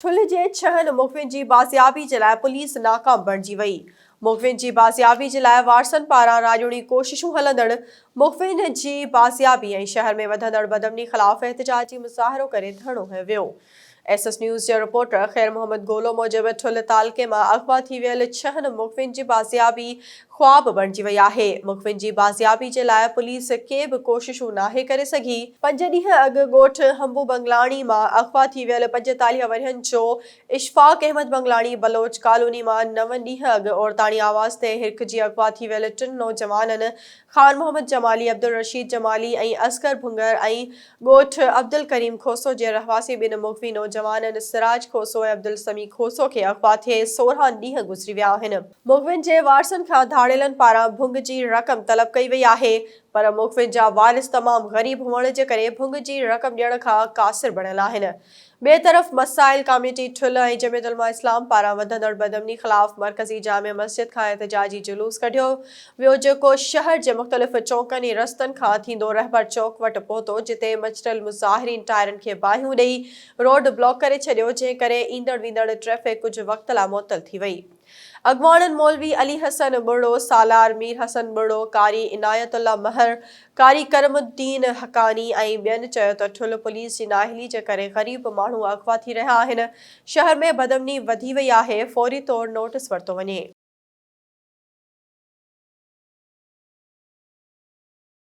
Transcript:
ٺلهه جي ڇهن مخفين جي بازيابي جي لاء پوليس ناڪام بڻجي وئي، مخفين جي بازيابي جي لاء وارثن پاران راڄوڻي ڪوششون هلندڙ مخفين جي بازيابي ۽ شهر ۾ وڌندڙ بدامني خلاف احتجاجي مظاهرو ڪري ڌرڻو هنيو ويو. ايس ايس نيوز جي رپورٽر خير محمد گولو موجب ٺلهه تعلقي مان اغوا ٿي ويل ڇهن مخفين جي بازيابي خواب بڻجي وئي آهي. مخبرن جي بازيابي جي لاء پوليس ڪي به ڪوششون ناهي ڪري سگهي. پنج ڏينهن اڳ ڳوٺ حنبو بنگلاڻي مان اغوا ٿي ويل پنجيتاليهه ورهين جو اشفاق احمد بنگلاڻي بلوچ ڪالوني مان نو ڏينهن اڳ عورتاڻي آواز تي هرکجي اغوا ٿي ويل ٽن نوجوانن خان محمد جمالي، عبدالرشيد جمالي ۽ اصغر ڀونگر ۽ ڳوٺ عبدالڪريم کوسو جي رهواسي ٻن مغوي نوجوانن سراج کوسو ۽ عبدالسميع کوسو کي اغوا ٿئي سورهن ڏينهن گذري ويا آهن. مغوين جي وارثن کان ڌاڙيلن پاران ڀنگ جي رقم طلب ڪئي وئي آهي پر مغوين جا وارث تمام غريب هئڻ جي ڪري ڀنگ جي رقم ڏيڻ کان قاصر بڻيل آهن. ٻئي طرف مسائل ڪاميٽي ٺل ۽ جميعت علماء اسلام پاران وڌندڙ بدامني خلاف مرڪزي جامع مسجد کان احتجاجي جلوس ڪڍيو ويو جيڪو شهر جي مختلف چونڪن ۽ رستن کان ٿيندو رهبر چوڪ وٽ پهتو جتي مچٽل مظاهرين ٽائرن کي باهيون ڏئي روڊ بلاڪ ڪري ڇڏيو جنهن ڪري ايندڙ ويندڙ ٽريفڪ ڪجهه وقت لاء معطل ٿي وئي. اڳواڻن مولوي علي حسن ٻرڙو، سالار مير حسن ٻرڙو، قاري عنايت الله مهر، قاري ڪرم الدين حقاني ۽ ٻين چيو ته ٺل پوليس جي نااهلي جي ڪري غريب ماڻهو اغوا ٿي رهيا آهن، شهر ۾ بدامني وڌي وئي آهي، فوري طور نوٽيس ورتو وڃي.